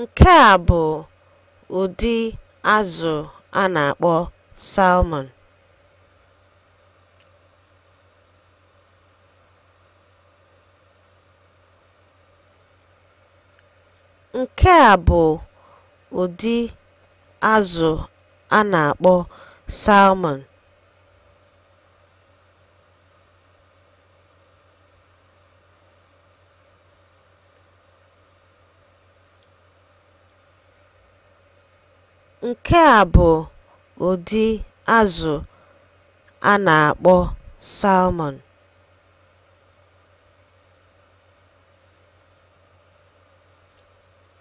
Nke a bụ ụdị azụ a na-akpọ salmon. Nke a bụ ụdị azụ a na-akpọ salmon. Nke a bụ ụdị azụ a na-akpọ salmon.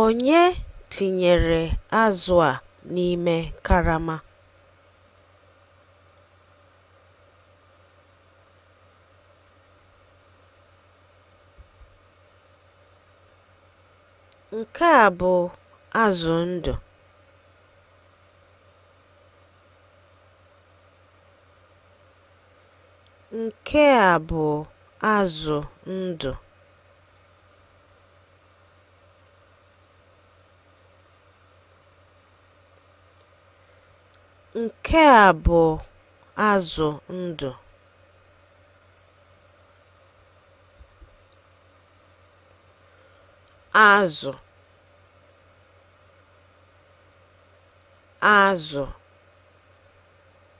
Onye tinyere azụ a n'ime karama? Nke a bụ azụ ndụ. Nke a bụ azụ ndụ. Nke a bụ azụ ndụ. Azụ azụ